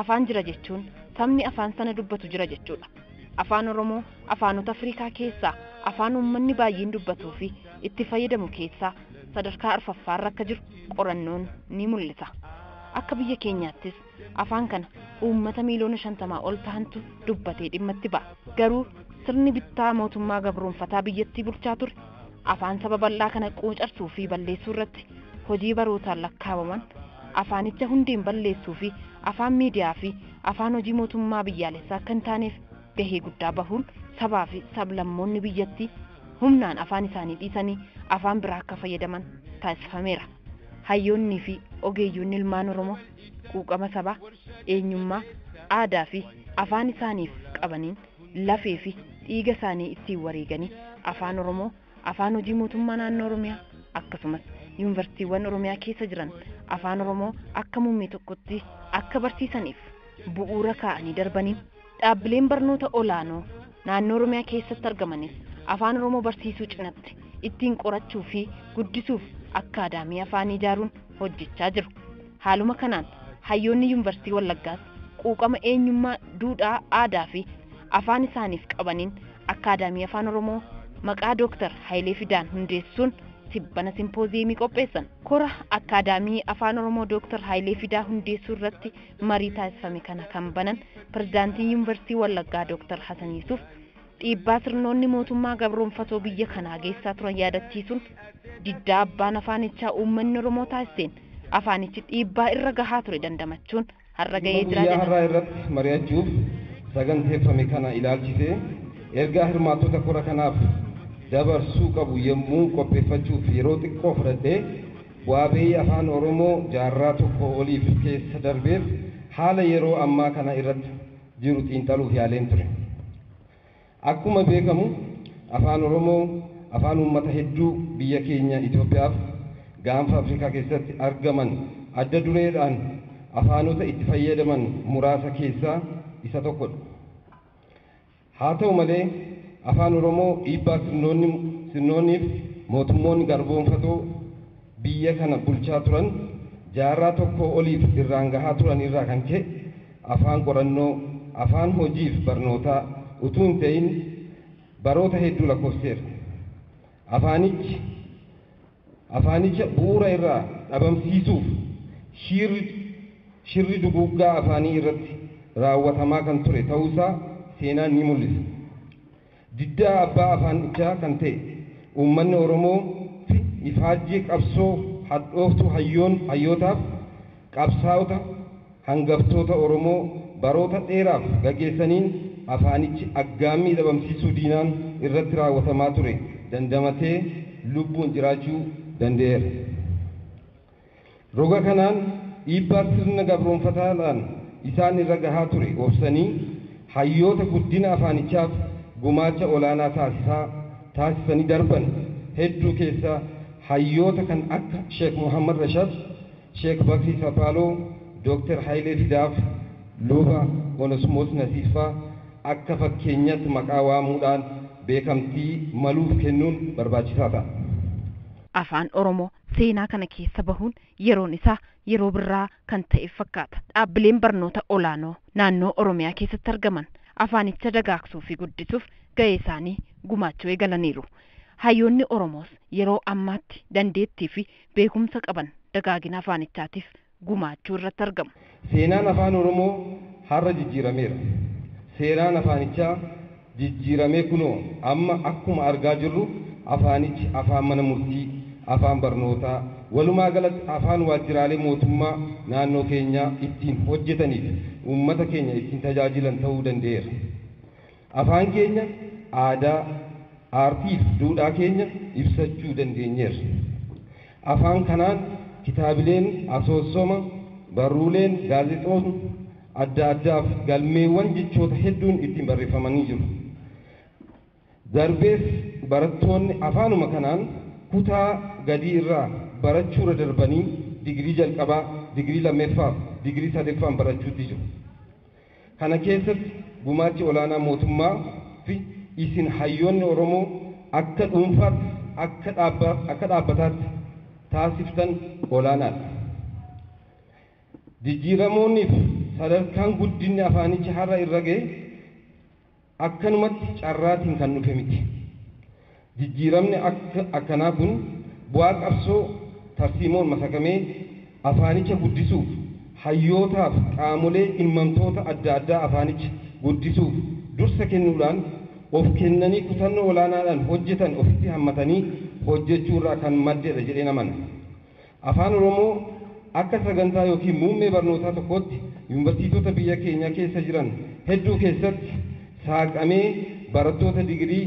Afaan jira jechuun sabni afaan sana dubbatu jira jechuudha. Afaan Oromoo afaanota Afriikaa keessaa afaan uummanni baay'een dubbatuu fi itti fayyadamu keessaa sadarkaa arfaffaarra akka jiru qorannoon ni mul'isa. Akka biyya keenyaattis afaan kana uummata miiliyoona shantamaa ol tahantu dubbatee dhimma itti ba'a. Garuu sirni bittaa mootummaa gabroonfataa biyyattii bulchaa ture afaan saba bal'aa kana quucarsuu fi balleessuu irratti hojii barootaan lakkaawaman afaanicha hundeen balleessuu fi afaan miidiyaa fi afaan hojii mootummaa biyyaalessaa akka hin taaneef gahee guddaa bahuun sabaa fi sab-lammoonni biyyattii humnaan afaan isaanii dhiisanii afaan biraa akka fayyadaman taasifameera. Hayyoonnii fi ogeeyyoonni ilmaan Oromoo quuqama sabaa, eenyummaa, aadaa fi afaan isaaniif qabaniin lafee fi dhiiga isaanii ittiin wareeganii afaan Oromoo Afaan hojii mootummaa naannoo Oromiyaa akkasumas yuunivarsiitiiwwan Oromiyaa keessa jiran Afaan Oromoo akka muummee tokkotti akka barsiisaniif bu'uura kaa'anii darbanii dhaabbileen barnoota olaanoo naannoo Oromiyaa keessatti argamanis Afaan Oromoo barsiisuu cinatti ittiin qorachuu fi guddisuuf akkaadaamii afaanii ijaaruun hojjechaa jiru. Haaluma kanaan, hayyoonni Yunvarsiitii Wallaggaas quuqama eenyummaa, duudhaa, aadaafi afaan isaaniif qabaniin Akkaadaamii Afaan Oromoo maqaa Dooktar Hayilee Fidaan hundeessuun tibbana simpooziyeemii qopheessan. Kora Akkaadaamii Afaan Oromoo Dooktar Hayilee Fidaa hundeessuu irratti marii taasifame kana kan banan Pirezidaantiin Yunvarsiitii Wallaggaa Dooktar Hasan Yusuuf, Dhiibbaa sirnoonni mootummaa gabroomfatoo biyya kanaa geessaa turan yaadachiisuun, diddaa abbaan afaanichaa uummanni Oromoo taasiseen afaanichi dhiibbaa irra gahaa ture dandamachuun har'a Dhimma gahee jiraa guyyaa jedhan. har'aa irratti mari'achuuf saganteeffame kana ilaalchisee ergaa hirmaattota kora kanaaf dabarsuu qabu yommuu qopheeffachuuf yeroo xiqqoo fudhadhee, bu'aa ba'ii Afaan Oromoo jaarraa tokkoo oliif keessa darbeef haala yeroo ammaa kana irratti jiru xiinxaluuf yaaleen ture. Akkuma beekamu Afaan Oromoo afaan uummata hedduu biyya keenya Itoophiyaaf gaanfa Afrikaa keessatti argaman adda dureedhaan afaanota itti fayyadaman muraasa keessaa isa tokkodha. Haa ta'u malee Afaan Oromoo dhiibbaa sirnoonni sirnoonniif mootummoonni garboomfatoo, biyya kana bulchaa turan jaarraa tokkoo oliif irraan gahaa turan irraa kan ka'e afaan qorannoo, afaan hojiif barnootaa utuu hin ta'in baroota hedduu lakkoofsiseera. Afaanichi afaanicha bu'uura irraa dhabamsiisuuf shiirri shirri duguuggaa afaanii irratti raawwatamaa kan ture ta'uusaa seenaan ni mul'isa. Diddaa abbaa afaannichaa kan ta'e uummanni Oromoo fi ifaajjii qabsoo hadhooftuu hayyoon hayyootaaf qabsaa'ota hangaftoota Oromoo baroota dheeraaf gageessaniin afaanichi aggaammii dhabamsiisuu diinaan irratti raawwatamaa ture dandamatee lubbuun jiraachuu danda'eera. Roga kanaan dhiibbaa sirna gabroomfataadhaan isaan irra gahaa ture obsanii hayyoota guddina afaanichaaf gumaacha olaanaa taasisaa taasisanii darban hedduu keessaa hayyoota kan akka Sheek Muhammad Rashad, Sheek Bakrii Sapaaloo, Dr. Hayilee Fidaaf, Luba Onesmoos Nasiibfaa akka fakkeenyatti maqaa waamuudhaan beekamtii maluuf kennuun barbaachisaa ta'a. Afaan Oromoo seenaa kana keessa bahuun yeroon isaa yeroo birraa kan ta'eef fakkaata. Dhaabbileen barnoota olaanoo naannoo Oromiyaa keessatti argaman afaanicha dagaagsuu fi guddisuuf ga'ee isaanii gumaachuu eegalaniiru. Hayyoonni Oromoos yeroo ammaatti dandeettii fi beekumsa qaban dagaagina afaanichaatiif gumaachuu irratti argamu. Seenaan Afaan Oromoo har'a jijjiirameera. Seeraan afaanichaa jijjiiramee kunoo amma akkuma argaa jirru afaanichi afaan mana murtii, afaan barnootaa, walumaa galatti afaan waajjiraalee mootummaa naannoo keenyaa ittiin hojjetaniifi uummata keenya ittiin tajaajilan ta'uu danda'eera. Afaan keenya, aadaa, aartiif duudhaa keenya ibsachuu dandeenyeerra. Afaan kanaan kitaabileen asoosoma, barruuleen, gaazexootni adda addaaf galmeewwan jechoota hedduun ittiin barreeffamanii jiru. Darbees barattoonni afaanuma kanaan kutaa gadii irraa barachuurra darbanii digirii jalqabaa, digirii lammeffaaf digirii sadeffaan barachuutti jiru. Kana keessatti gumaachi olaanaa mootummaa fi isin hayyoonni Oromoo akka dhuunfaattis akka akka dhaabbataatti taasiftan olaanaadha. Jijjiiramoonni fi sadarkaan guddinni afaanichi har'a irra gahe, Akkanumatti carraatiin kan dhufe miti. Jijjiiramni akka akkanaa kun bu'aa qabsoo tarsiimoon masakamee afaanicha guddisuuf hayyootaaf qaamolee dhimmamtoota adda addaa afaanicha guddisuuf dursa kennuudhaan of kennanii kutannoo olaanaadhaan hojjetan ofitti hammatanii hojjechuurraa kan maddedha jedheen amana. Afaan Oromoo akka sagantaa ykn muummee barnootaa tokkootti Yuunvarsiitota biyya keenya keessa jiran hedduu keessatti saaqamee barattoota digirii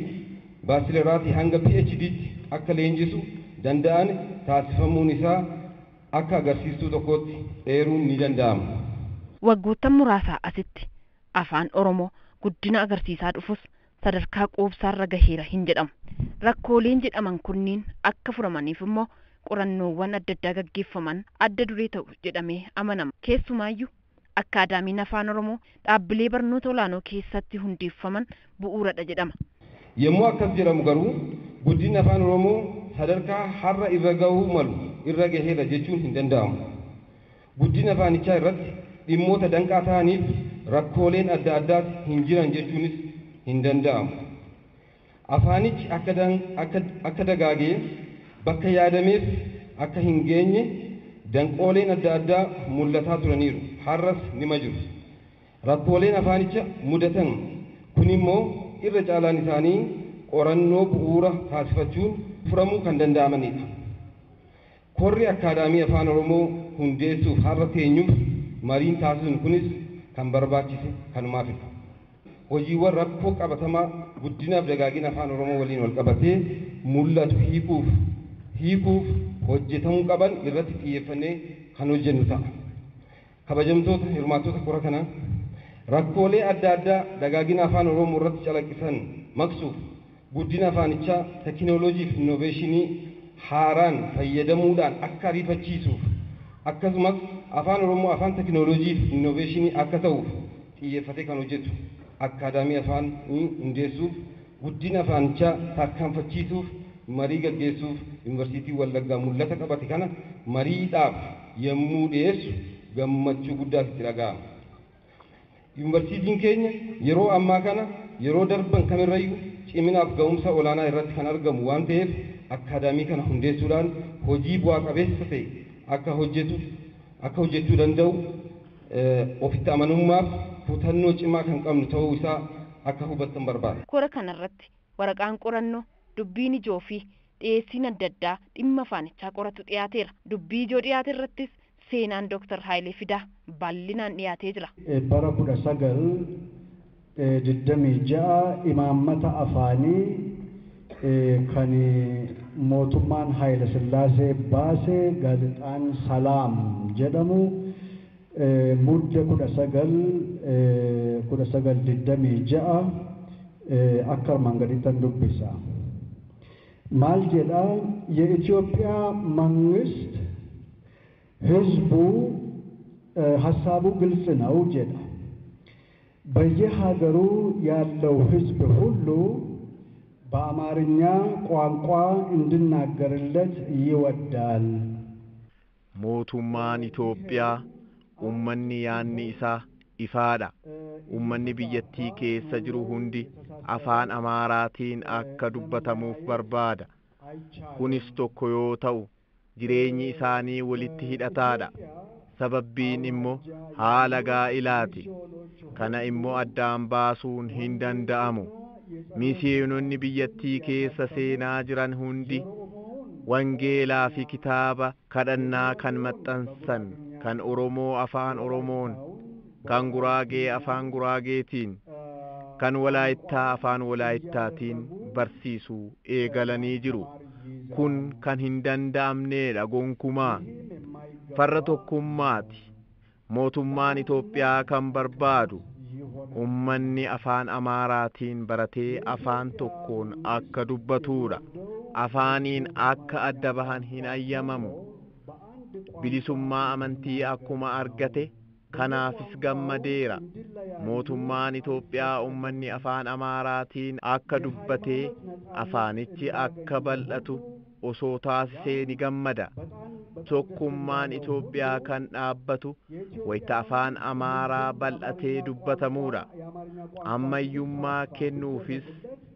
Baachileraatii hanga PhDtti akka leenjisu danda'an taasifamuun isaa akka agarsiistuu tokkootti eeruun ni danda'ama. Waggoottan muraasaa asitti Afaan Oromoo guddina agarsiisaa dhufus sadarkaa quubsaarra gaheera hin jedhamu. Rakkooleen jedhaman kunniin akka furamaniif immoo qorannoowwan adda addaa gaggeeffaman adda duree ta'u jedhamee amanama. Keessumaayyuu, Akkaadaamiin Afaan Oromoo dhaabbilee barnoota olaanoo keessatti hundeeffaman bu'uuradha jedhama. Yommuu akkas jedhamu garuu, guddinni Afaan Oromoo sadarkaa har'a irra gahuu malu irra gaheera jechuun hin danda'amu. Guddina afaanichaa irratti dhimmoota danqaa ta'aniif rakkooleen adda addaas hin jiran jechuunis hin danda'amu. Afaanichi akka dagaagee bakka yaadameef akka hin geenye danqooleen adda addaa mul'ataa turaniiru, har'as nima jiru. Rakkooleen afaanicha mudatan kunimmoo irra caalaan isaanii qorannoo bu'uura taasifachuun furamuu kan danda'amanidha. Korri Akkaadaamii Afaan Oromoo hundeessuuf har'a teenyuuf mariin taasisnu kunis kan barbaachise kanumaafidha. Hojiiwwan rakkoo qabatamaa guddinaaf dagaagina Afaan Oromoo waliin walqabatee mul'atu hiikuuf hiikuuf hojjetamuu qaban irratti xiyyeeffannee kan hojjennu ta'a. Kabajamtoota hirmaattota kora kanaa, rakkoolee adda addaa dagaagina Afaan Oromoo irratti calaqqisan maqsuuf guddina afaanichaa tekinooloojii fi innoveeshinii haaraan fayyadamuudhaan akka ariifachiisuuf akkasumas Afaan Oromoo afaan tekinooloojii fi innoveeshinii akka ta'uuf xiyyeeffatee kan hojjetu Akkaadaamii Afaanii hundeessuuf Guddina afaanichaa tarkaanfachiisuuf marii gaggeessuuf Yunivarsiitiin Wallaggaa mul'ata qabate kana mariidhaaf yemmuu dhiyeessu gammachuu guddaatu itti dhaga'ama. Yunivarsiitiin keenya yeroo ammaa kana yeroo darban kamirrayyu ciminaaf ga'umsa olaanaa irratti kan argamu waan ta'eef akkaadaamii kana hundeessuudhaan hojii bu'aa qabeessa ta'e akka hojjetu akka hojjechuu danda'u ofitti amanummaaf kutannoo cimaa kan qabnu ta'uu isaa akka hubattan barbaada. Kora kana irratti waraqaan qorannoo, dubbiin ijoo fi dhiyeessiin adda addaa dhimma afaanichaa qoratu dhiyaateera. Dubbii ijoo dhiyaate irrattis seenaan Dr. Haayilee Fidaa bal'inaan dhiyaatee jira. Bara 19. 26, Imaammata afaanii kan mootummaan Haayilasillaasee baase gaazexaan Salaam jedhamu Mudde 19, 1926 akka armaan gadittan dubbisa. Maal jedha? Ye'ityoophiya mangist hizbu hassaabu giltsi naw jedha. Beye hageru yallew hizb hullu ba'amaarinya quanqua indinnagerlet yiwaddal. Mootummaan Itoophiyaa ummanni yaanni isaa ifaadha. Ummanni biyyattii keessa jiru hundi afaan Amaaraatiin akka dubbatamuuf barbaada. Kunis tokko yoo ta'u jireenyi isaanii walitti hidhataadha. Sababbiin immo haala gaa'ilaati. Kana immo addaan baasuun hin danda'amu. Miisiyoononni biyyattii keessa seenaa jiran hundi wangeelaa fi kitaaba kadhannaa kan maxxansan kan Oromoo Afaan Oromoon kan Guraagee Afaan Guraageetiin, kan Walaayittaa Afaan Walaayittaatiin barsiisu eegalanii jiru. Kun kan hin danda'amneedha gonkumaa. Farra tokkummaati. Mootummaan Itoophiyaa kan barbaadu ummanni Afaan Amaaraatiin baratee afaan tokkoon akka dubbatuudha. Afaaniin akka adda bahan hin ayyamamu. Bilisummaa amantii akkuma argate, Kanaafis gammadeera. Mootummaan Itoophiyaa ummanni Afaan Amaaraatiin akka dubbatee afaanichi akka bal'atu osoo taasisee ni gammada. Tokkummaan Itoophiyaa kan dhaabbatu wayita Afaan Amaaraa bal'atee dubbatamuudha. Ammayyummaa kennuufis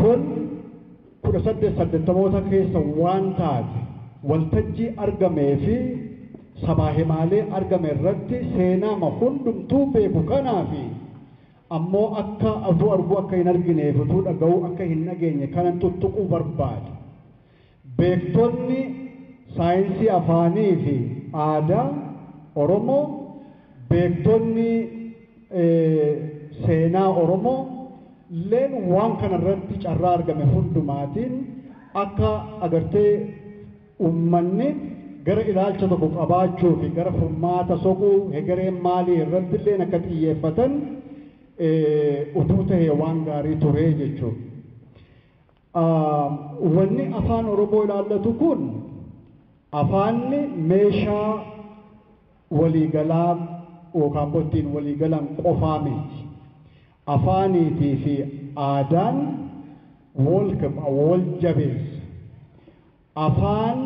Kun 18 saddettamoota keessa waan taate waltajjii argamee fi sabaa himaalee argame irratti seenaama hundumtuu beeku kanaa fi ammoo akka utuu arguu akka hin argineef utuu dhaga'uu akka hin dhageenye kanan tuttuquu barbaade. Beektonni saayinsii afaaniifi aadaa Oromoo, beektonni seenaa Oromoo lleen waan kana irratti carraa argame hundumaatiin akka agartee ummanni gara ilaalcha tokko qabaachuufi gara furmaata soquu hegereen maalii irratti illeen akka xiyyeeffatan utuu tahee waan gaarii ture jechuudha. Wanni Afaan Oromoo ilaallatu kun afaanni meeshaa walii galaa yookaan immoo ittiin walii galan qofaa miti. Afaaniitii fi aadaan wal jabeessa. Afaan.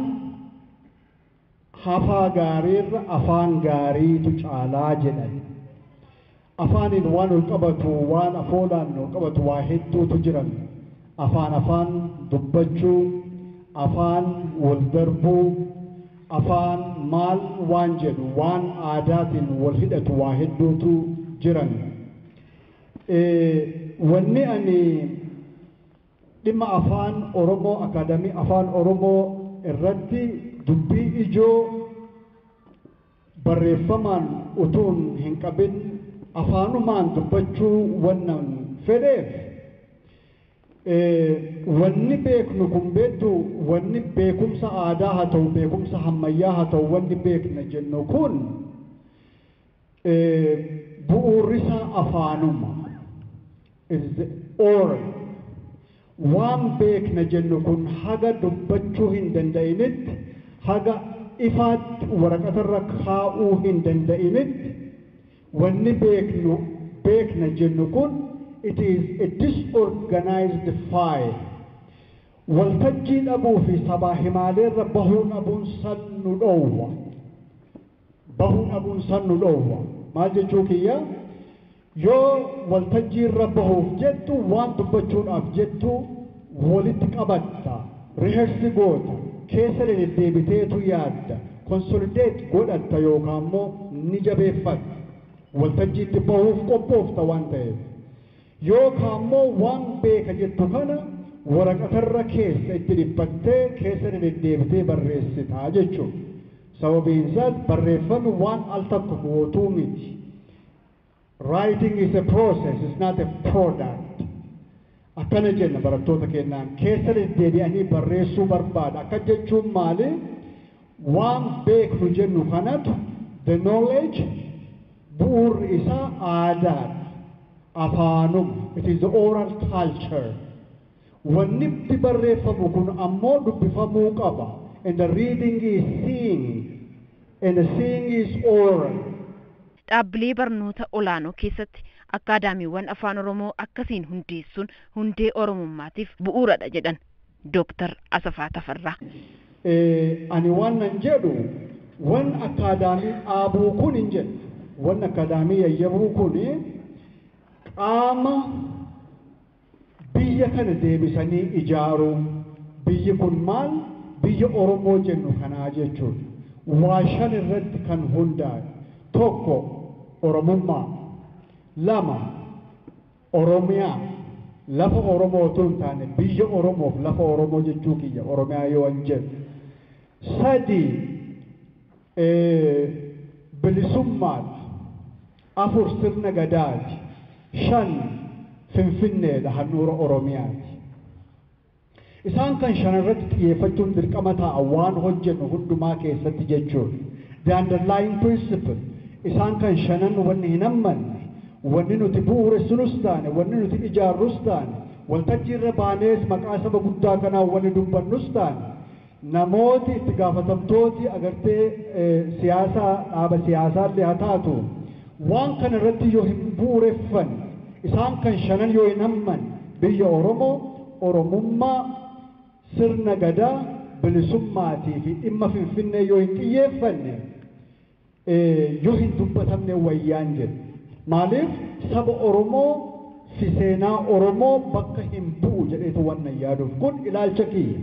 Hafaa gaariirra afaan gaariitu caalaa jedhan. Afaaniin waan walqabatu, waan afoolaan walqabatu waa hedduutu jiran. Afaan afaan dubbachuu, afaan waldarbuu, afaan maal waan jedhu, waan aadaatiin walhidhatu waa hedduutu jiran. Wanni ani. Dhimma Afaan Oromoo Akaadaamii Afaan Oromoo irratti dubbii ijoo barreeffamaan utuun hinqabin afaanumaan dubbachuu wannan fedheef, wanni beeknu kun beektuu wanni beekumsa aadaa haa ta'u beekumsa hammayyaa haa ta'u wanni beekna jennu kun Bu'uurrisaa afaanuma. It is oral. Waan beekna jennu kun haga dubbachuu hin danda'initti, haga ifaatti waraqatarra kaa'uu hin danda'initti, wanni beeknu, beekna jennu kun it is a disorganized file. Waltajjii dhabuu fi sabaa himaaleerra bahuu dhabuun san nu dhoowwa. bahuu dhabuun san nu dhoowwa. Maal jechuu kiyya? Yoo waltajjii irra bahuuf jettu waan dubbachuudhaaf jettu walitti qabatta, rehearse goota, keessa dededdeebiteetu yaadda, consolidate godhatta yookaa immoo ni jabeeffatta. Waltajjiitti bahuuf qophoofta waan ta'eef. Yookaammoo waan beeka jettu kana waraqatarra keessa itti dhiphattee keessa dededdeebitee barreessita jechuudha. Sababiinsaas barreeffami waan al takko mootuu miti. Writing is a process, it's not a product. Akkana jenna barattoota kennaan keessa deddeebi'anii barreessuu barbaada. Akkas jechuun maali? Waan beeknu jennu kanatu, the knowledge, bu'uurri isaa aadaadha, afaanuma, it is the oral culture. Wannitti barreeffamu kun ammoo dubbifamuu qaba, and the reading is seeing, and the seeing is oral. Dhaabbilee barnoota olaanoo keessatti akkaadaamiiwwan Afaan Oromoo akkasiin hundeessuun hundee Oromummaatiif bu'uuradha jedhan. Dooktar Asafaa Tafarraa. Ani waannan jedhu wan akkaadaamii dhaabuu kun hin jedhu. Wan akkaadaamii yayyabuu kun qaama biyya kana deebisanii ijaaruu, biyyi kun maal biyya Oromoo jennu kanaa jechuudha. Waa shan irratti kan hundaa'e. Tokko Oromummaa. Lama. Oromiyaa, lafa Oromoo otuu hin taane biyya Oromoof lafa Oromoo jechuu kiyya, Oromiyaa yoon jedhu. 3, Bilisummaadha. 4, Sirna Gadaati. 5, Finfinneedha, handhuura Oromiyaati. Isaan kan shanan irratti xiyyeeffachuun dirqama ta'a, waan hojjennu hundumaa keessatti jechuudha. The underlying principle, isaan kan shanan wanni hin hammanne, wanni nuti bu'uuressinus taane, wanni nuti ijaarrus taane, waltajjii irra baanees maqaa saba guddaa kanaan wanni dubbannus taane, Namooti itti gaafatamtooti agartee siyaasaa dhaaba siyaasaallee haa taatu waan kana irratti yoo hin bu'ureffanne isaan kan shanan yoo hin hammanne biyya Oromoo, Oromummaa, Sirna Gadaa, Bilisummaatiifi dhimma Finfinnee yoo hin xiyyeeffanne, yoo hin dubbatamne wayyaan jedhe. Maaliif saba Oromoo fi seenaa Oromoo bakka hin bu'u jedheetu wannan yaaduuf. Kun ilaalcha kiyya.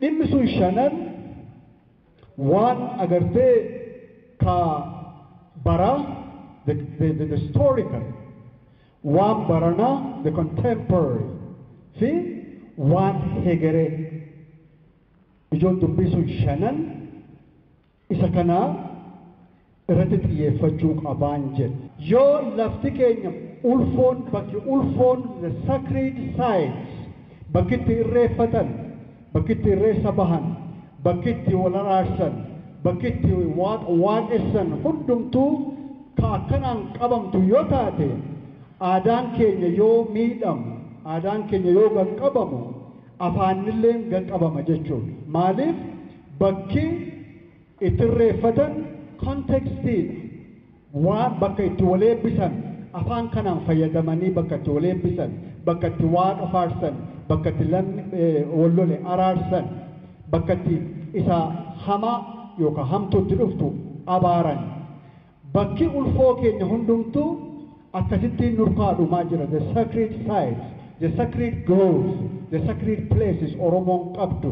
Dhimmi sun shanan waan agartee ka baraa, the, the, the, the historical, waan baranaa, the contemporary, fi waan hegeree. Ijoon dubbii sun shanan Isa kana irratti xiyyeeffachuu qabaan jedhu. Yoo lafti keenya ulfoon bakki ulfoon, the sacred sites, bakki itti irreeffatan, bakki itti irreessa bahan, bakki itti wal araarsan, bakki itti waaqa waaqessan hundumtuu ka akkanaan qabamtu yoo taate, aadaan keenya yoo miidhamu, aadaan keenya yoo gad qabamu, afaannilleen ganqabama jechuudha. Maaliif bakki itti irreeffatan context dha. Waan bakka itti wal eebbisan afaan kanaan fayyadamanii bakka itti wal eebbisan, bakka itti waaqa faarsan, bakka itti lammi wal lole araarsan, bakka itti isa hamaa yookaan hamtuu itti dhuftu abaaran, Bakki ulfoo keenya hundumtuu akkasittiin nurkaa dhumaa jira the sacred sites, the sacred groves, the sacred places Oromoon qabdu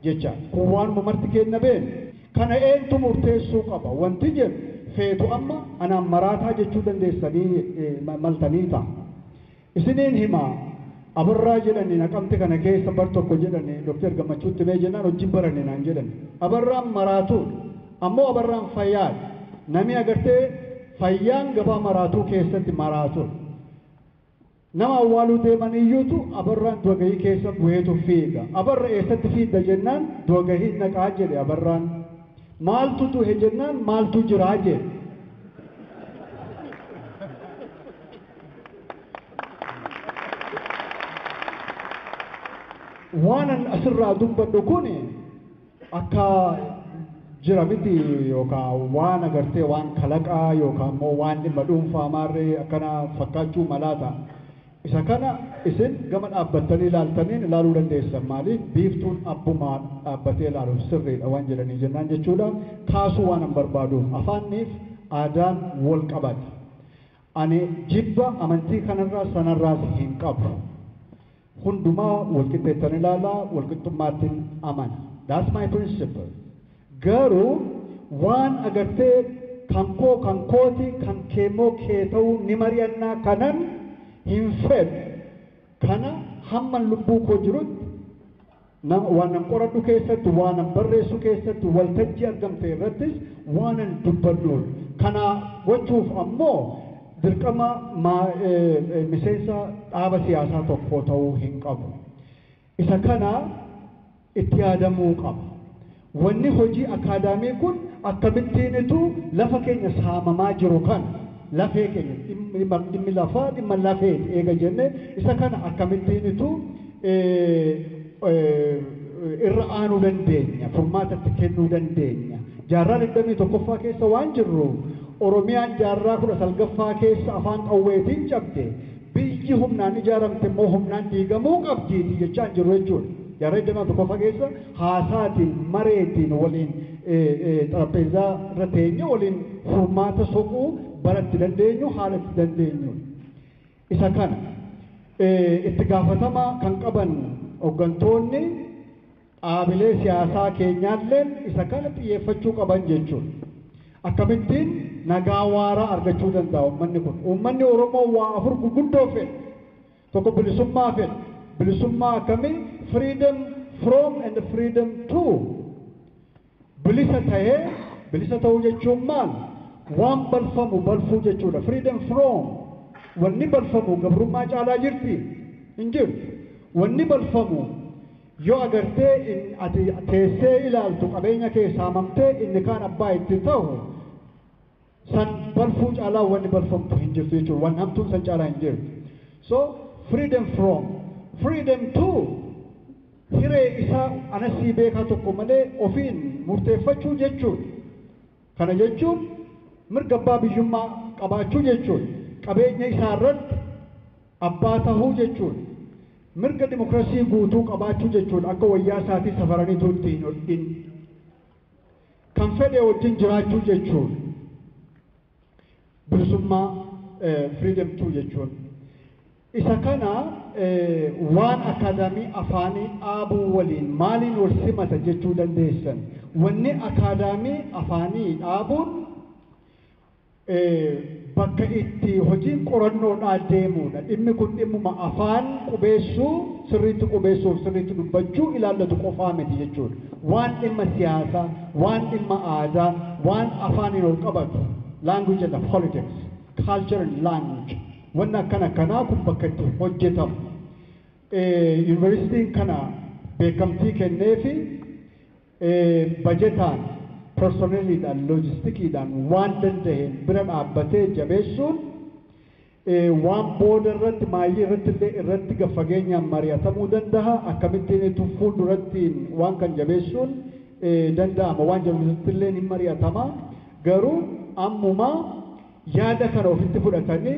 jecha kun waanuma marti keenna beenu. Kana eentu murteessuu qaba wanti jedhu feetu amma anaan maraataa jechuu dandeessanii maltanii ta'a. Isiniin hima Abarraa jedhani Naqamte kana keessa bar tokko jedhani Dr. Gammachuutti mee jennaan hojji hin baranne naan jedhani. Abarraan maraatuudha. Ammoo Abarraan fayyaadha. Namii agartee fayyaan gabaa maraatuu keessatti maraatudha. Nama awwaaluu deeman iyyuutu Abarraan du'agahii keessa buheetu fiiga. Abarra eessatti fiidda jennaan du'agahiin dhaqaa jedhe Abarraan. Maaltu duhe jennaan maaltu jiraa jedhe. waanan asirraa dubbadhu kun akka jira miti yookaan waan agartee waan kalaqaa yookaan immoo waan dhimma dhuunfaa maarree akkana fakkaachuu malaa ta'a. Isa kana isin gama dhaabbattanii ilaaltaniin ilaaluu dandeessan maaliif biiftuun abbumaa dhaabbatee ilaaluuf sirriidha waan jedhanii jennaan jechuudha. Kaasuu waan hin barbaaduuf afaanniif aadaan wal qabata. Ani jibba amantii kanarraa sanarraas hin qabu. Hundumaa walqixxeettan ilaala, walqixxummaattin amana. That's my principle. Garuu waan agartee kan koo kan kooti, kan keemmoo kee ta'uu ni mari'annaa kanan hin fedhu kana hamman lubbuu koo jirutti Nama waanan qoradhu keessatti, waanan barreessu keessatti, waltajjii argamte irrattis waanan dubbadhuun. Kana gochuuf ammoo dirqama maa, e, e, miseensa dhaaba siyaasaa tokkoo ta'uu hin qabu. Isa kana itti yaadamuu qaba. Wanni hojii akaadaamii kun akkamittiin utuu lafa keenya saamamaa jiru kana, lafee keenya, dhimmi lafaa dhimma lafeeti eega jennee, isa kana akkamittiin utuu irra aanuu dandeenya, furmaata itti kennuu dandeenya? Jaarraa 21ffaa keessa waan jirruuf, Oromiyaan jaarraa 19ffaa keessa afaan qawweetiin cabde, Biyyi humnaan ijaaramte immoo humnaan diigamuu qabdiiti jechaa hin jirru jechuudha. Jaarraa 21ffaa keessa haasaatiin, mareetiin, waliin xarapheezzaa irra teenyee waliin furmaata soquu bara itti dandeenyu, haala itti dandeenyuudha. Isa kana itti gaafatama kan qaban hoggantoonni. Dhaabilee siyaasaa keenyaalleen isa kana xiyyeeffachuu qaban jechuudha. Akkamittiin nagaa waaraa argachuu danda'a uummanni kun? Uummanni Oromoo waa afur guguddoo fedha. Tokko bilisummaa fedha. Bilisummaa akkamii? Freedom from and freedom to. Bilisa tahee, bilisa tahuu jechuun maal? Waan balfamu balfuu jechuudha. Freedom from, wanni balfamu gabrummaa caalaa jirti? Hin jirtu. Wanni balfamu yoo agartee in, ati teessee ilaaltu qabeenya kee saamamtee inni kaan abbaa itti tahu, San balfuu caalaa wanni balfamtu hin jirtu jechuudha. Wan hamtuun san caalaa hin jirtu. So freedom from, freedom to hiree isaa ana sii beekaa tokko malee ofiin murteeffachuu jechuudha. Kana jechuun mirga abbaa biyyummaa qabaachuu jechuudha. Qabeenya isaa irratti abbaa tahuu jechuudha. Mirga dimokrasii guutuu qabaachuu jechuudha. Akka wayyaa isaatii safaraniitu itti hin hodhin. Kan fedhe wajjin jiraachuu jechuun bilisummaa, freedom too, jechuun isa kana waan akaadaamii afaanii dhaabuu waliin maaliin wal simata jechuu dandeessan? Wanni akaadaamii afaanii dhaabuun bakka itti hojiin qorannoodhaa deemuudha. Dhimmi kun dhimmuma afaan qubeessuu, sirriitti qubeessuuf sirriitti dubbachuu ilaallatu qofaa miti jechuudha. Waan dhimma siyaasaa, waan dhimma aadaa, waan afaaniin ol qabatu, language and politics, culture and language, wanni akkana akkanaa kun bakka itti hojjetamu. Yuunivarsiitiin kana beekamtii kenneefi. bajetaan, personneliidhaan, loojistikiidhaan waan danda'een bira dhaabbatee jabeessuun waan booda irratti maayyii irratti illee irratti gad fageenyaan mari'atamuu danda'a akkamittiin fuuldurattiin waan kan jabeessuun danda'ama waan jedhu irratti illee hin mari'atama garuu ammumaa Yaada kana ofitti fudhatanii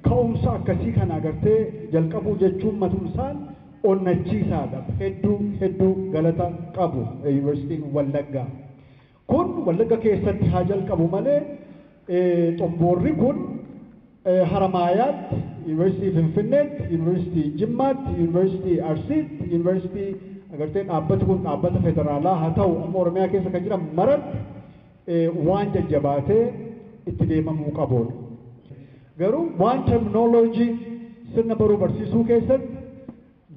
ka'umsa akkasii kana agartee jalqabuu jechuun matumsaan onnachiisaadha. Hedduu hedduu galata qabu Yuunivarsiitiin Wallaggaa. Kun Wallagga keessatti haa jalqabu malee xomboorri kun Haramaayaatti, Yuunivarsiitii Finfinneetti, Yuunivarsiitii Jimmaatti, Yuunivarsiitii Arsiitti, Yuunivarsiitii agartee dhaabbati kun dhaabbata federaalaa haa ta'u amma Oromiyaa keessa kan jiran maratti waan jajjabaatee itti deemamuu qabuudha. Garuu waan terminology sirna baruu barsiisuu keessatti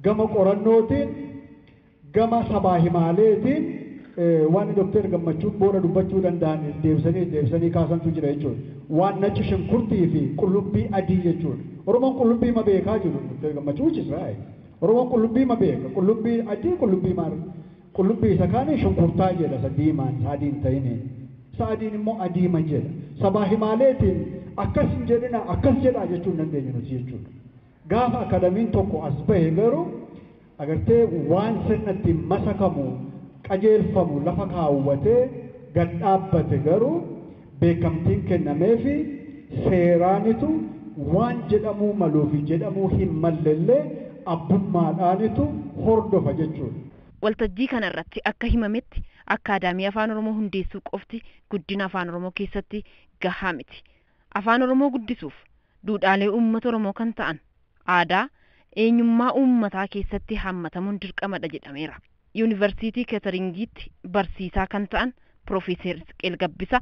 gama qorannootiin gama sabaa himaaleetiin waan Dooktar Gammachuun booda dubbachuu danda'an deebisanii deebisanii kaasantu jira jechuudha. Waan naci shunkurtii fi qullubbii adii jechuudha. Oromoon qullubbii ma beekaa jedhu Dooktar Gammachuu which is right. Oromoon qullubbii ma beeka? Qullubbii adii qullubbii maarree? Qullubbii isa kaaniin shunkurtaa jedha isa diimaan isa adii hin ta'iniin. Isa adiin immoo adiima jedha. Sabaa himaaleetiin akkas hin jedhinaa akkas jedhaa jechuu hin dandeenyu nuti jechuudha. Gaafa akadamiin tokko as bahe garuu agartee waan sirna ittiin masakamu qajeelfamu lafa kaawwatee gad dhaabbate garuu beekamtiin kennameefi seeraanitu waan jedhamuu maluufi jedhamuu hin mallellee abbummaadhaanitu hordofa jechuudha. Waltajjii kana irratti akka himametti, Akkaadaamii Afaan Oromoo hundeessuu qofti guddina Afaan Oromoo keessatti gahaa miti. Afaan Oromoo guddisuuf, duudhaalee uummata Oromoo kan ta'an, aadaa, eenyummaa uummataa keessatti haammatamuun dirqamadha jedhameera. Yuunivarsiitii Keeteringiitti barsiisaa kan ta'an Pirofeeser Isqeel Gabbisaa,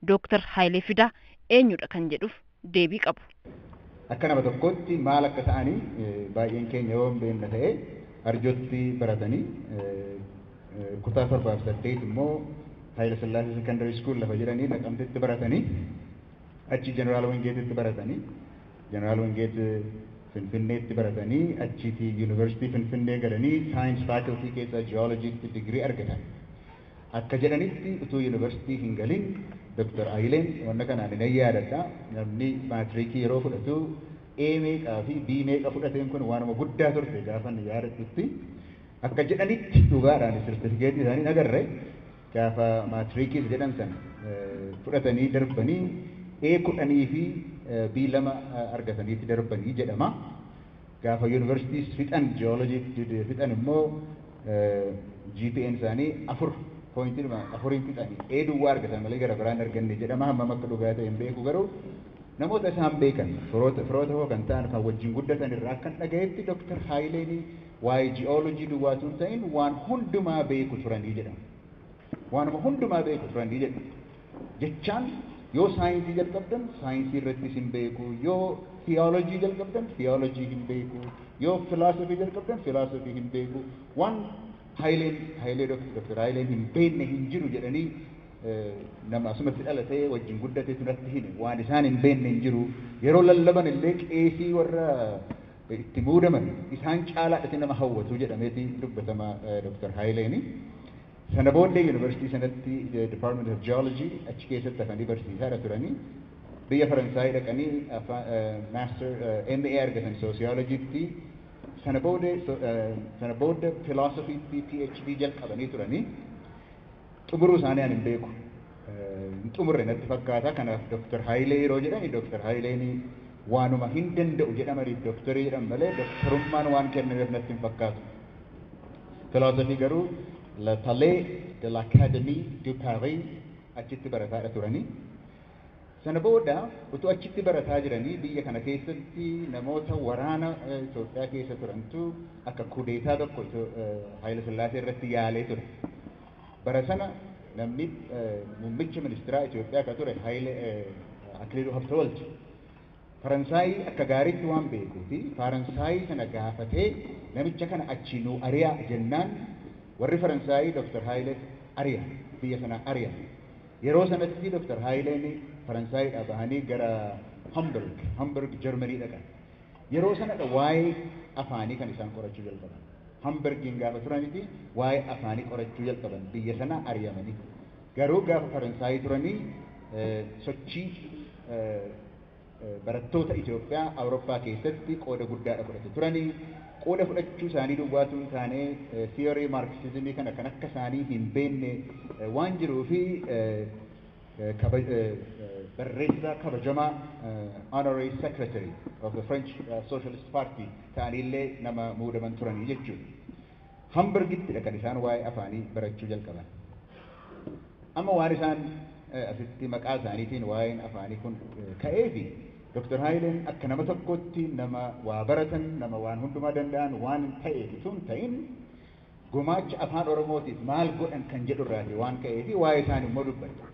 Dooktar Hayilee Fidaa eenyudha kan jedhuuf deebii qabu. Akka nama tokkootti maal akka ta'ani baay'een keenya yoo hin beekna ta'e Arjootti baratani. Kutaa 7 fi 8 immoo Hayilasillaasee Sekondary School lafa jedhani Naqamtetti baratani. Achi Jeneraal Wingeetitti baratani. Jeneraal Wingeet Finfinneetti baratanii achiiti Yuunivarsiitii Finfinnee galanii Science Faculty keessa Geology tti degree argatan. Akka jedhanitti utuu Yuunivarsiitii hin galin Dr. Ayileen wanna kana ani nan yaadadha namni maatriikii yeroo fudhatu A meeqaa fi B meeqa fudhateen kun waanuma guddaa turte gaafan yaadadhutti. Akka jedhanitti dhugaadhaanis sertifikeetii isaanii hin agarre. Gaafa maatriikiif jedhan sana fudhatanii darbanii A kudhanii fi B lama argataniiti darbanii jedhama. Gaafa Yuunivarsiitiis fixan Ji'oolojii fixan immoo GPA'n isaanii afur pooyintiidhuma afuriin fixani A duwwaa argatan malee gara biraa hin arganne jedhama. Hammam akka dhugaa ta'e hin beeku garuu namoota isaan beekan firoota koo kan ta'an kan wajjin guddatan irraa akkan dhagahetti Doktar Haayileen Waa'ee ji'oolojii duwwaa utuu hin ta'in waan hundumaa beeku turanii jedhan. Waanuma hundumaa beeku turanii jedhu. Jechaan yoo saayinsii jalqabdan saayinsii irrattis hin beeku, yoo tiyoolojii jalqabdan tiyoolojii hin beeku, yoo filaasofii jalqabdan filaasofii hin beeku, waan Hayileen Hayilee Dok- Doktar Hayileen hin beekne hin jiru jedhanii eh, nama asumatti dhalatee wajjin guddatetu natti hime waan isaan hin beekne hin jiru yeroo lallaban illee qeesii warra itti muudaman isaan caalaadhati nama hawwatu jedhameeti dubbatama Dr. Hayileeni. Sana booddee Yunivarsiitii sanatti Department of Geology achi keessatti hafanii barsiisaadha turani. Biyya Faransaayii dhaqanii Master MA argatan Sociology tti. Sana booda Philosophy tti PhD jalqabanii turani. Xumuruu isaanii ani hin beeku. Hin xumurre natti fakkaata. Kanaaf Doktar Hayilee yeroo jedhani Doktar Hayileen waanuma hin danda'u jedhamaniif doktorii jedhan malee doktarummaan waan kennameef natti hin fakkaatu. Filoosofii garuu Le Palais de l'Académie de Paris achitti barataadha turani. Sana booda utuu achitti barataa jiranii biyya kana keessatti namoota waraana Itoophiyaa keessa turantu akka kudeetaa tokko Hayila Sillaasee irratti yaalee ture. Bara sana namni muummicha ministiraa Itoophiyaa akka ture Akiliiluu Habtewald Faransaayii akka gaariitti waan beekuu fi Faaransaayii sana gaafatee namicha kana achii nuu ari'aa jennaan warri Faransaayii Dr. Hayilee ari'an, biyya sanaa ari'an. Yeroo sanatti Dr. Haayileen Faransaayidhaa bahanii gara Hamburg, Hamburg Germany dhaqan. Yeroo sanadha waa'ee afaanii kan isaan qorachuu jalqaban. Hamburgiin gaafa turaniti waa'ee afaanii qorachuu jalqaban biyya sanaa ari'amanii. Garuu gaafa Faransaayii turanii sochii Barattoota Itoophiyaa Awurooppaa keessatti qooda guddaadha fudhatu turani. Qooda fudhachuu isaanii duwwaa utuu hin taane theory Marxism kana kan akka isaanii hin beekne waan jiruu fi barreessaa kabajamaa Honorary Secretary of the French Socialist Party ta'anii illee nama muudaman turani jechuudha. Hamburgittidha kan isaan waa'ee afaanii barachuu jalqaban. Amma waan isaan asitti maqaa isaaniitiin waa'een afaanii kun ka'eefi Doktar Haayileen akka nama tokkootti nama waa baratan, nama waan hundumaa danda'an waan ta'eef utuu hin ta'in gumaacha Afaan Oromootiif maal godhan kan jedhu irraati waan ka'eefi waa'ee isaanii immoo dubbadhe.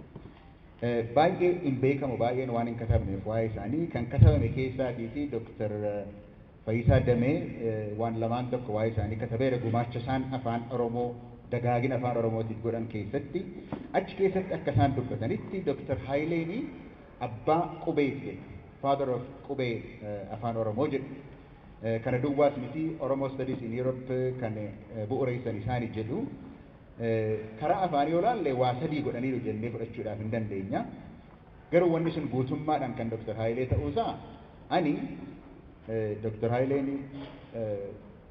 Baay'ee hin beekamu, baay'een waan hin katabneef waa'ee isaanii kan katabame keessaatiiti Doktar Fayisaa Damee waan lamaan tokko waa'ee isaanii katabeera, gumaacha isaan Afaan Oromoo, dagaagina Afaan Oromootiif godhan keessatti. Achi keessatti akka isaan dubbatanitti Dr. Hayileeni abbaa qubeeti jedhu. Father of qubee Afaan Oromoo jedhu. Kana duwwaas miti, Oromo Studies in Europe kan bu'ureessan isaani jedhu. Karaa afaanii yoo ilaalle waa sadii godhaniiru jennee fudhachuudhaaf hin dandeenya. Garuu wanni sun guutummaadhaan kan Dr. Haayilee ta'uusaa ani Dr. Haayileen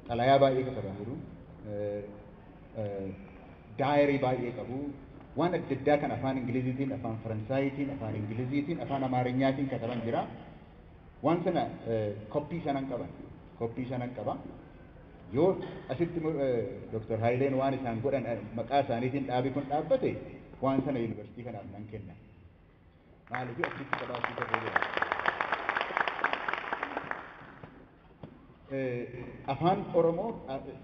xalayaa baay'ee katabaniiru, daayarii baay'ee qabu, waan adda addaa kan afaan Ingiliziitiin, afaan Faransaayiitiin, afaan Ingiliziitiin, afaan Amaarinyaatiin kataban jira. Waan sana koppii sanan qaban, koppii sanan qaba. Yoo asitti Dr. Haayileen waan isaan godhan maqaa isaaniitiin dhaabi kun dhaabbate waan sana yuunivarsiitii kanaaf nan kenna. Maaliif achitti qabaachuu ta'uu jira. Afaan Oromoo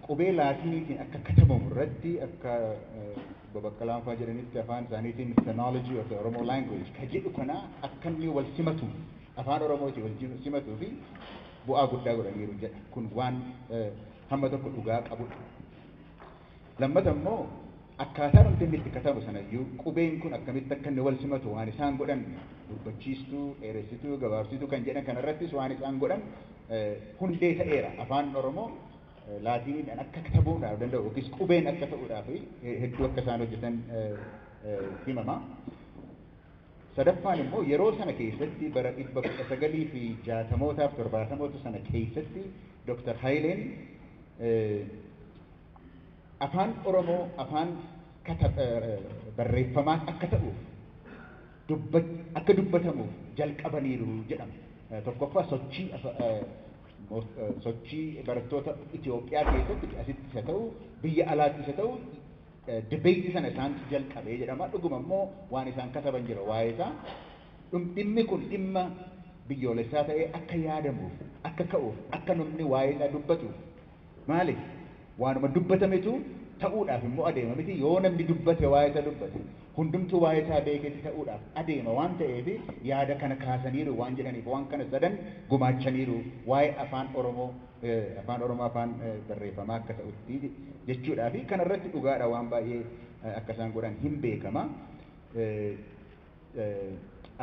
qubee laatiiniitiin akka katabamu irratti akka babaqqalaan fa'aa jedhanitti afaan isaaniitiin phonology of the Oromo language ka jedhu kana akka inni wal simatu afaan Oromootiin wal simatuu fi bu'aa guddaa godhaniiru jedha. Kun waan hamma tokko dhugaa qabudha. Lammata immoo, akkaataa dhumti inni itti katabu sana iyyuu qubeen kun akkamitti akka inni wal simatu waan isaan godhan, gurbachiistuu, dheeressituu, gabaabsituu kan jedhan kana irrattis waan isaan godhan hundee ta'eera. Afaan Oromoo Laatiiniidhaan akka katabuudhaaf danda'u yookiis qubeen akka ta'uudhaaf hedduu akka isaan hojjetan himama. Sadaffaan immoo yeroo sana keessatti bara 1960mootaaf 70moota sana keessatti Dr. Hayileen Afaan Oromoo afaan barreeffamaan akka ta'uuf akka dubbatamuuf jalqabaniiru jedhama. Tokkoffaa sochii sochii barattoota Itoophiyaa keessatti asitti isa ta'u biyya alaatti isa ta'u dibeetii sana isaantu jalqabee jedhama. Dhuguma immoo waan isaan kataban jira waa'ee isaa. Dhimmi kun dhimma biyyoolessaa ta'ee akka yaadamuuf, akka ka'uuf, akka namni waa'ee isaa dubbatuuf Maaliif? Waanuma dubbatametu ta'uudhaaf immoo adeema miti, yoo namni dubbate waa'ee isa dubbate, hundumtuu waa'ee isaa beeketti ta'uudhaaf adeema waan ta'eef yaada kana kaasaniiru waan jedhaniif waan kana sadan gumaachaniiru waa'ee afaan oromoo afaan oromoo afaan barreeffamaa akka ta'utti jechuudhaafi kana irratti dhugaadha waan baay'ee akka isaan godhan hin beekama.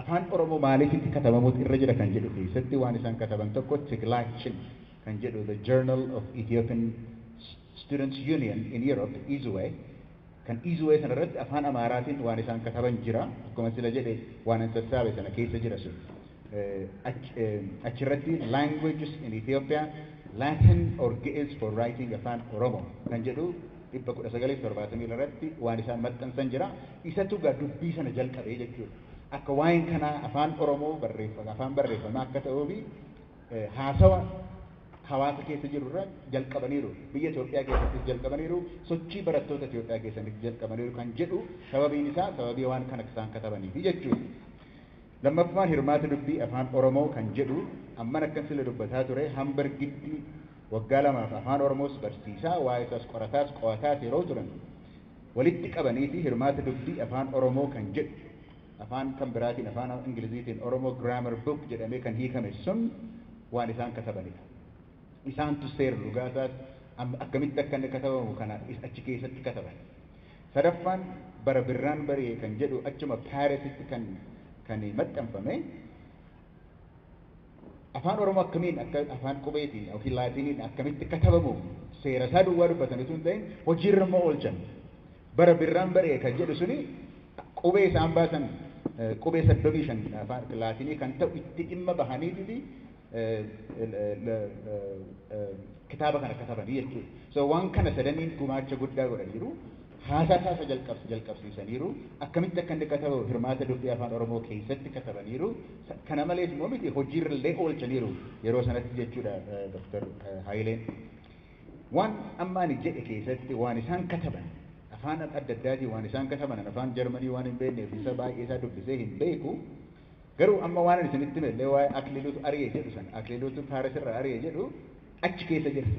Afaan Oromoo maaliif itti katabamuutu irra jira kan jedhu keessatti waan isaan kataban tokko Tiglaachin kan jedhu The Journal of Ethiopian Students Union in Europe, Izue, kan Izue sana irratti afaan Amaaraatiin waan isaan kataban jira. Akkuma sila jedhe waanan sassaabe sana keessa jira sun. Achi irratti Languages in Ethiopia, Latin or Ge'ez for Writing Afaan Oromoo kan jedhu 1972 irratti waan isaan maxxansan jira. Isatu egaa dubbii sana jalqabe jechuudha. Akka waa'een kanaa Afaan Oromoo afaan barreeffamaa akka ta'uu fi haasawa hawaasa keessa jiru irra jalqabaniiru. Biyya Itoophiyaa keessattis jalqabaniiru. Sochii barattoota Itoophiyaa keessanitti jalqabaniiru kan jedhu sababiin isaa sababii waan kana isaan katabaniifi jechuudha. Lammaffaa hirmaata dubbii Afaan Oromoo kan jedhu amman akkan sila dubbataa ture Hamburgitti waggaa lamaaf Afaan Oromoos barsiisaa, waa'ee isaas qorataas, qo'ataas yeroo turan walitti qabaniiti hirmaata dubbii Afaan Oromoo kan jedhu afaan kan biraatiin Afaan Ingiliziitiin Oromo Grammar Book jedhamee kan hiikame sun waan isaan katabanidha. Isaantu seer lugaa isaas akkamitti akka inni katabamu kana achi keessatti kataban. Sadaffaan bara birraan bari'e kan jedhu achuma Paarisitti kan kan maxxanfame Afaan Oromoo akkamiin akka afaan qubeetiin yookiin laatiiniin akkamitti katabamu seera isaa duwwaa dubbatan utuu hin ta'in hojiirra immoo oolchan. Bara birraan bari'e kan jedhu suni qubee isaan baasan qubee 35 afaan laatiinii kan ta'u itti dhimma bahaniititi kitaaba kana katabanii jechuudha. So waan kana sadaniin gumaacha guddaa godhaniiru. Haasaa isaa isa jalqabs- jalqabsiisaniiru. Akkamitti akka inni katabu hirmaata dubbii afaan Oromoo keessatti katabaniiru. Sa- Kana malees immoo miti hojiirra illee oolchaniiru yeroo sanatti jechuudha eh, Dr. eh, Haayileen. Waan amma ani jedhe keessatti waan isaan kataban afaan adda addaatiin waan isaan kataban ani afaan Jarmanii waan hin beekneef isa baay'ee isaa dubbisee hin beeku. Garuu amma waanan isinitti hime illee waa'ee Akliluutu ari'e jedhu sana, Akliluutu Faares irraa ari'e jedhu achi keessa jira.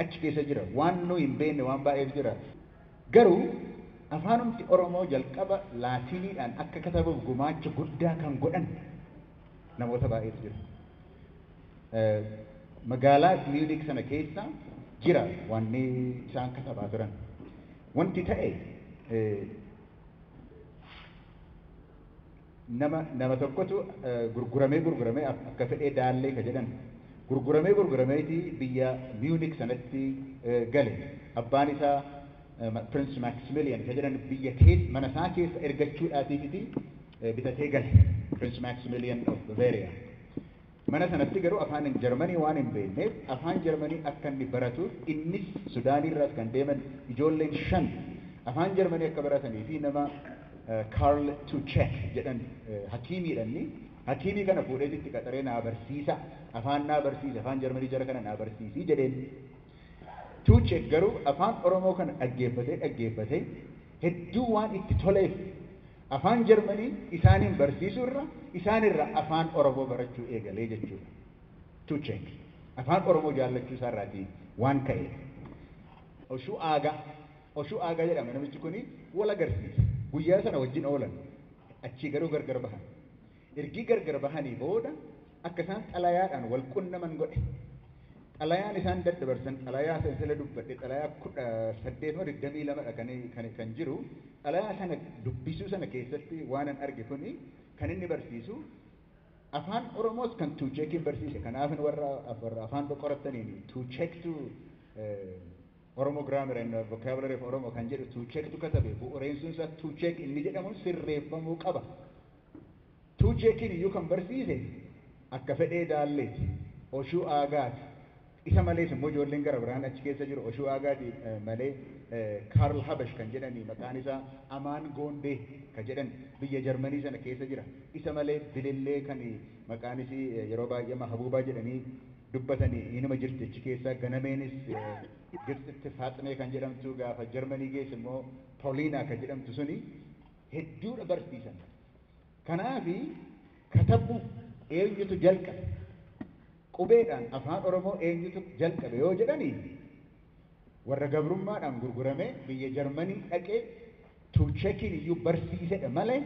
Achi keessa jira. Waan nuyi hin beekne waan baay'eetu jira. Garuu afaanumti Oromoo jalqaba Laatiiniidhaan akka katabuuf gumaacha guddaa kan godhan namoota baay'eetu jira. Magaalaa Miyuuniik sana keessa jira wanni isaan katabaa turan. Wanti ta'e Nama nama tokkotu gurguramee gurguramee akka fedhee daallee ka jedhan gurguramee gurgurameeti biyya Munich sanatti gale. Abbaan isaa Prince Maximilian ka jedhan biyya keessa mana isaa keessa ergachuudhaatiifiti bitatee gale. Prince Maximilian of Bavaria. Mana sanatti garuu afaan Jarmanii waan hin beekneef afaan Jarmanii akka inni baratuuf innis Sudaanii irraas kan deeman ijoolleen shan afaan Jarmanii akka baratanii fi nama Karl Tuchek jedhan hakiimiidha inni hakiimii kana fuudheeti itti qaxaree naa barsiisa afaan naa barsiisi afaan Jarmanii jara kana naa barsiisi jedheen. Tuchek garuu afaan Oromoo kana dhaggeeffatee dhaggeeffatee hedduu waan itti toleef Afaan Jarmanii isaaniin barsiisuu irra isaan irraa Afaan Oromoo barachuu eegale jechuudha. To check. Afaan Oromoo jaallachuu isaa irraati waan ka'eef. Oshuu Aagaa, Oshuu Aagaa jedhama namichi kuni, wal agarsiise. Guyyaa sana wajjin oolan. Achii garuu gargar bahan. Ergii gargar bahanii booda akka isaan xalayaadhaan wal qunnaman godhe. Xalayaan isaan daddabarsan xalayaa isa intala dubbadhe xalayaa 18 moo 22 dha kan kan kan jiru. Xalayaa sana dubbisuu sana keessatti waanan arge kuni kan inni barsiisu afaan Oromoos kan Tuucheekiin barsiise kanaafin warra warra afaan qorattaniin Tuucheektu Oromo Grammar and Vocabulary of Oromo kan jedhu Tuucheektu katabe. Bu'ureessuun isaa Tuucheek inni jedhamun sirreeffamuu qaba. Tuucheekiin iyyuu kan barsiise Akkafedhee Daalleeti, Oshuu Aagaati. Isa malees immoo ijoolleen gara biraan achi keessa jiru. Oshuu Aagaati malee Kaarl Habash kan jedhani maqaan isaa Amaan Goondee ka jedhan biyya Jarmanii sana keessa jira. Isa malee Bilillee kan maqaan isii yeroo baay'ee Mahabuubaa jedhanii dubbatani inuma jirti achi keessa. Ganameenis Gibtsitti Faaximee kan jedhamtu gaafa Jarmanii geesse immoo Poliinaa kan jedhamtu suni hedduudha barsiisan. Kanaafi katabuu eenyutu jalqabe? Qubeedhaan Afaan Oromoo eenyutu jalqabe yoo jedhani warra gabrummaadhaan gurguramee biyya Jarmanii dhaqee Tuuchekiin iyyuu barsiisedha malee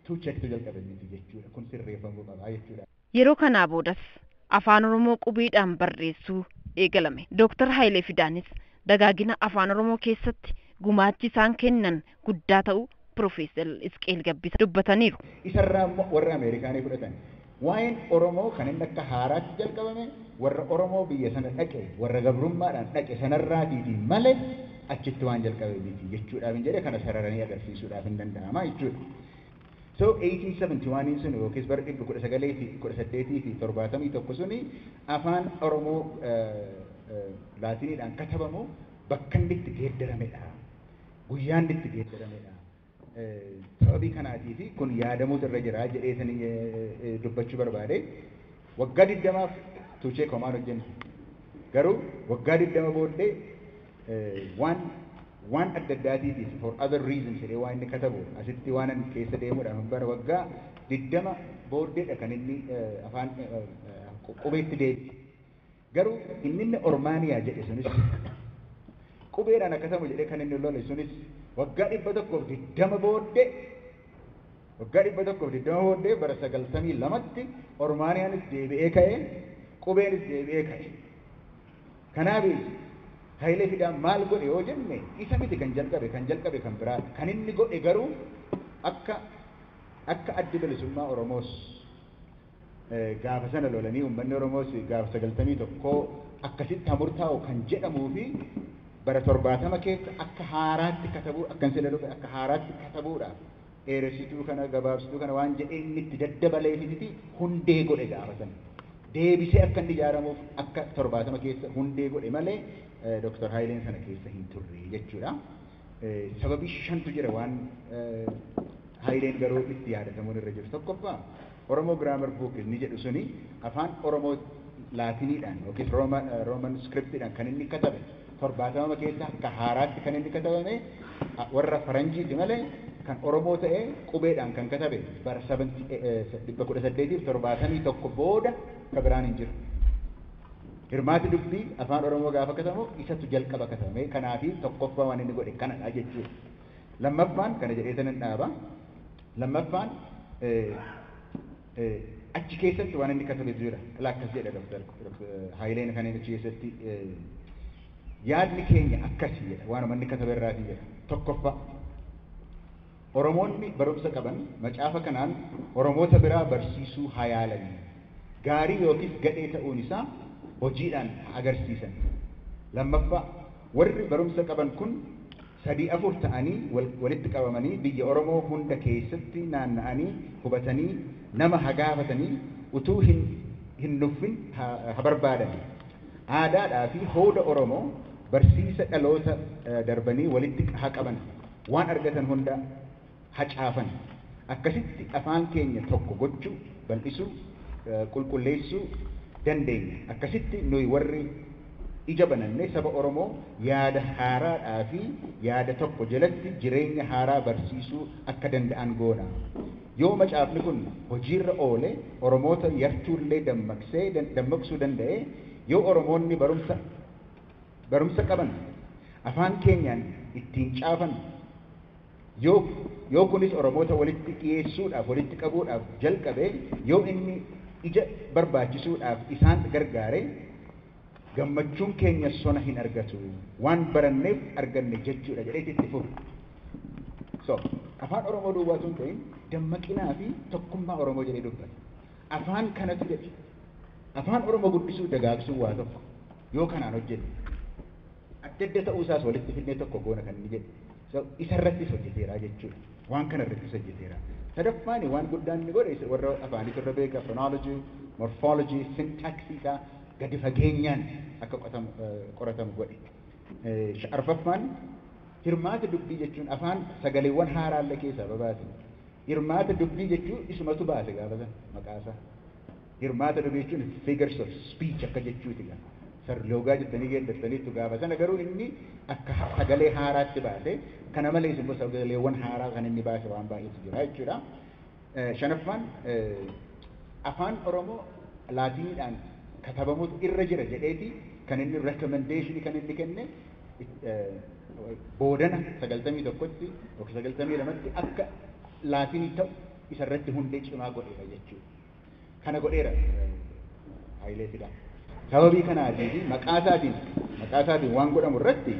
Tuuchektu jalqabe miti jechuudha. Kun sirreeffamuu qaba jechuudha. Yeroo kanaa boodas Afaan Oromoo qubeedhaan barreessuu eegalame. Dooktar Hayilee Fidaanis dagaagina Afaan Oromoo keessatti gumaachi isaan kennan guddaa ta'uu Pirofeesar Isqeel Gabbisa dubbataniiru. Isa irraa immoo warra Ameerikaa ni fudhatan. Waa'een Oromoo kan inni akka haaraatti jalqabame warra Oromoo biyya sana dhaqe, warra gabrummaadhaan dhaqe sana irraatiiti male achitti waan jalqabe miti jechuudhaafin jedhe kana sararanii agarsiisuudhaafin danda'ama jechuudha. So 1871n suni yookiis bara 1971 suni Afaan Oromoo Laatiniidhaan katabamu bakka inni itti geeddaramedha. Guyyaa inni itti geeddaramedha. Sababii kanaatiif kun yaadamuutu irra jira jedheetani dubbachuu barbaade. Waggaa 20f Tuuchee Koomaan hojjenne. Garuu waggaa 20 booddee Waan waan adda addaatiitiif for other reasons jedhee waan inni katabu asitti waanan keessa deemuudhaaf hin barbaadu. Waggaa 20 booddeedha kan inni afaan qubeetti deebi'e. Garuu inni inni Ormaaniyaa jedhe sunis qubeedhaan haa katamu jedhee kan inni lole sunis waggaa 120 booddee waggaa 120 booddee bara 92tti Ormaaniyaanis deebi'ee ka'e qubeenis deebi'ee ka'e. Kanaafi Hayilee Fidaan maal godhe yoo jenne isa miti kan jalqabe, kan jalqabe kan biraadha. Kan inni godhe garuu akka akka Addi Bilisummaa Oromoos gaafa sana lolanii uummanni Oromoos gaafa 91 akkasitti haa murtaa'u kan jedhamuu fi bara 70 keessa akka haaraatti katabuu akkan sila dhufe akka haaraatti katabuudhaaf dheeressituu kana gabaabsituu kana waan jedhee inni itti daddabaleefititi hundee godhe gaafa sana. Deebisee akka inni ijaaramuuf akka 70 keessa hundee godhe malee Dr. Hayileen sana keessa hin turre jechuudha. Sababii shantu jira waan Hayileen garuu itti yaadatamuun irra jiru. Tokkoffaa Oromo Grammar Book inni jedhu suni Afaan Oromoo Laatiniidhaan ykn Roman Scriptidhaan kan inni katabe 70ma keessa akka haaraatti kan inni katabame warra Faranjiiti malee kan Oromoo ta'ee qubeedhaan kan katabe bara 1871 booda ka biraan hin jiru. Hirmaati dubbii Afaan Oromoo gaafa katabamu isatu jalqaba katabame. Kanaafi tokkoffaa waan inni godhe kanadha jechuudha. Lammaffaan kana jedheetan nan dhaaba. Lammaffaan achi keessatti waan inni katabetu jira. Ilaa akkas jedha Dr. Haayileen kan inni achi keessatti yaadni keenya akkasi jedha. Waanuma inni katabe irraati jedha. Tokkoffaa Oromoonni barumsa qaban macaafa kanaan Oromoota biraa barsiisuu haa yaalanii. Gaarii yookiis gadhee ta'uun isaa hojiidhaan haa agarsiisan. Lammaffaa warri barumsa qaban kun sadii afur ta'anii walitti qabamanii biyya Oromoo hunda keessatti naanna'anii qubatanii nama ha gaafatanii utuu hin nuffin ha barbaadanii. Aadaadhaa fi hooda Oromoo barsiisa dhaloota darbanii walitti ha qaban. Waan argatan hunda. hacaafan. Akkasitti afaan keenya tokko gochuu, bal'isuu, qulqulleessuu dandeenya. Akkasitti nuyi warri ija bananne saba Oromoo yaada haaraadhaa fi yaada tokko jalatti jireenya haaraa barsiisuu akka danda'an goona. Yoo macaafni kun hojiirra oole Oromoota yartuullee dammaqsee dammaqsuu danda'e, yoo Oromoonni barumsa barumsa qaban afaan keenyaan ittiin caafan, Yoo yoo kunis Oromoota walitti dhiyeessuudhaaf, walitti qabuudhaaf jalqabe, yoo inni ija barbaachisuudhaaf isaan gargaare, gammachuun keenya sona hin argatu. Waan baranneef arganne jechuudha jedheeti itti fufe. So, Afaan Oromoo duwwaa utuu hin ta'in, dammaqinaa fi tokkummaa Oromoo jedhee dubbate. Afaan kanatu jedhe. Afaan Oromoo guddisuu fi dagaagsuun waa tokko. Yoo kanaan hojjenne. Adda adda ta'uu isaas walitti fidnee tokko goona kan inni jedhe. So, isa irrattis hojjeteera jechuu dha. Waan kana irrattis hojjeteera. Sadaffaani waan guddaan inni godhe isa warra afaaniitu irra beeka, phonology, morphology, syntax isaa gadi fageenyaan akka qotamu, qoratamu godhe. Sha, arfaffaan hirmaata dubbii jechuun afaan sagaleewwan haaraa illee keessaa babaase. Hirmaata dubbii jechuu isumatu baase gaafa sana maqaa isaa. Hirmaata dhuga jechuun figures of speech akka jechuuti gaa. Sarloogaa jettanii geeddartaniittu gaafa sana garuu inni akka sagalee haaraatti baase. Kana malees immoo sagaleewwan haaraa kan inni baase waan baay'eetu jira jechuudha. Shanaffaan Afaan Oromoo Laatiniidhaan katabamutu irra jira jedheeti kan inni recommendation kan inni kenne boodana 91tti yookiin 92tti akka Laatinii ta'u isarratti hundee cimaa godheera jechuudha. kana godheera Hayilee Fidaa. Sababii kanaatii fi maqaa isaatiin maqaa isaatiin waan godhamu irratti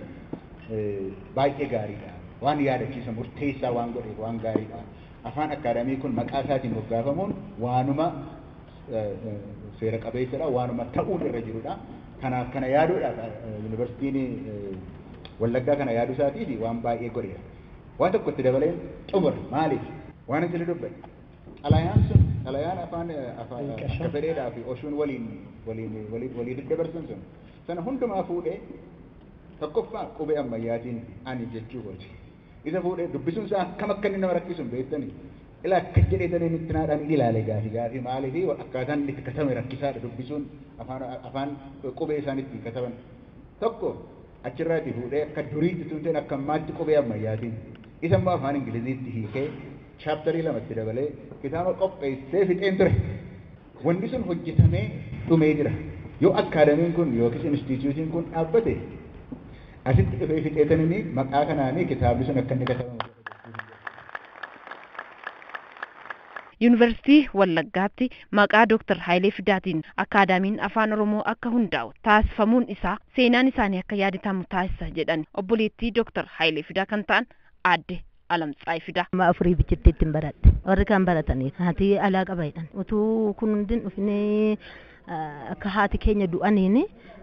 baay'ee gaariidha. Waan yaadachiisa murteessaa waan godheef waan gaariidha. Afaan akkaadamii kun maqaa isaatiin moggaafamuun waanuma seera qabeessadha waanuma ta'uun irra jirudha. Kanaaf kana yaaduudhaaf yuunivarsiitiin Wallaggaa kana yaaduu isaatiif waan baay'ee godheera. Waan tokko itti dabaleen xumura maaliif? Waan asirra dubbate. Xalayaan sun, xalayaan afaan akka fedheedhaa fi oshuun waliin walii daddabarsan sun sana hundumaa fuudhee tokkoffaa qubee ammayyaatiin ani jechuu kooti. Isa fuudhee dubbisuun isaa akkam akka inni nama rakkisu hin beektanii? Ilaa akkas jedhee talee nutti naadhaan hin ilaale gaafi gaafi maalii fi akkaataan inni itti katame rakkisaadha dubbisuun afaan afaan qubee isaan ittiin kataban. Tokko achirraati fuudhee akka duriitti tunteen akka ammaatti qubee ammayyaatiin isa immoo afaan Ingiliziitti hiikee chaaptarii lama itti dabalee kitaaba qopheessee fixeen ture. Wanni sun hojjetamee dhumee jira. Yoo akkaadamiin kun yookiis instiitiyuutiin kun dhaabbate asitti dhufee fixeetaniin maqaa kanaan kitaabni sun akka inni katabamu godha jechuun hin jedhu. Yuunivarsiitii Wallaggaatti maqaa Dooktar Hayilee Fidaatiin Akkaadaamiin Afaan Oromoo akka hundaa'u taasifamuun isaa seenaan isaanii akka yaadatamu taasisa jedhan obboleettii Dooktar Hayilee Fidaa kan ta'an Aadde Alamtsaay fida. Amma afurii bichitti ittiin baradhe. Warri kaan baratanii haati alaa qaba jedhan. Utuu kun hundi hin dhufinee akka haati keenya du'aniin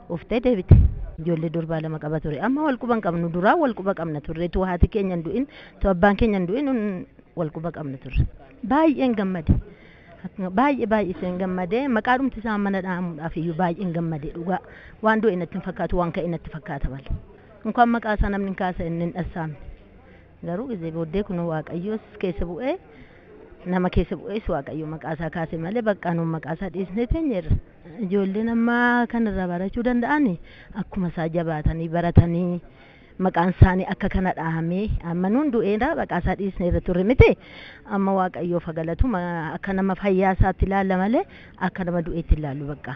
uftee deebite. Ijoollee durbaa lama qaba ture. Amma wal quba hin qabnu. Duraa wal quba qabna turre. Tu haati keenya hin du'in, tu abbaan keenya hin du'in wal quba qabna turre. Baay'een gammade. Baay'ee baay'iseen gammade. Maqaa dhumti isaa mana dha'amuudhaaf iyyuu baay'een gammade dhugaa. Waan du'e natti hin fakkaatu, waan ka'e natti fakkaata malee. Inkaan maqaa isaa namni hin kaasa inni hin dhassaamne. Garuu gizee booddee kunoo Waaqayyoos keessa bu'ee nama keessa bu'ees Waaqayyo maqaa isaa kaase malee baqqaa nuun maqaa isaa dhiisnee teenyeerra. Ijoolleen amma kan irraa barachuu danda'an akkuma isaa jabaatanii baratanii maqaan isaanii akka kana dhahamee amma nuun du'eera maqaa isaa dhiisnee irra turre miti amma Waaqayyoof haa galatu akka nama fayyaa isaatti ilaalla malee akka nama du'eetti ilaallu baqqaa.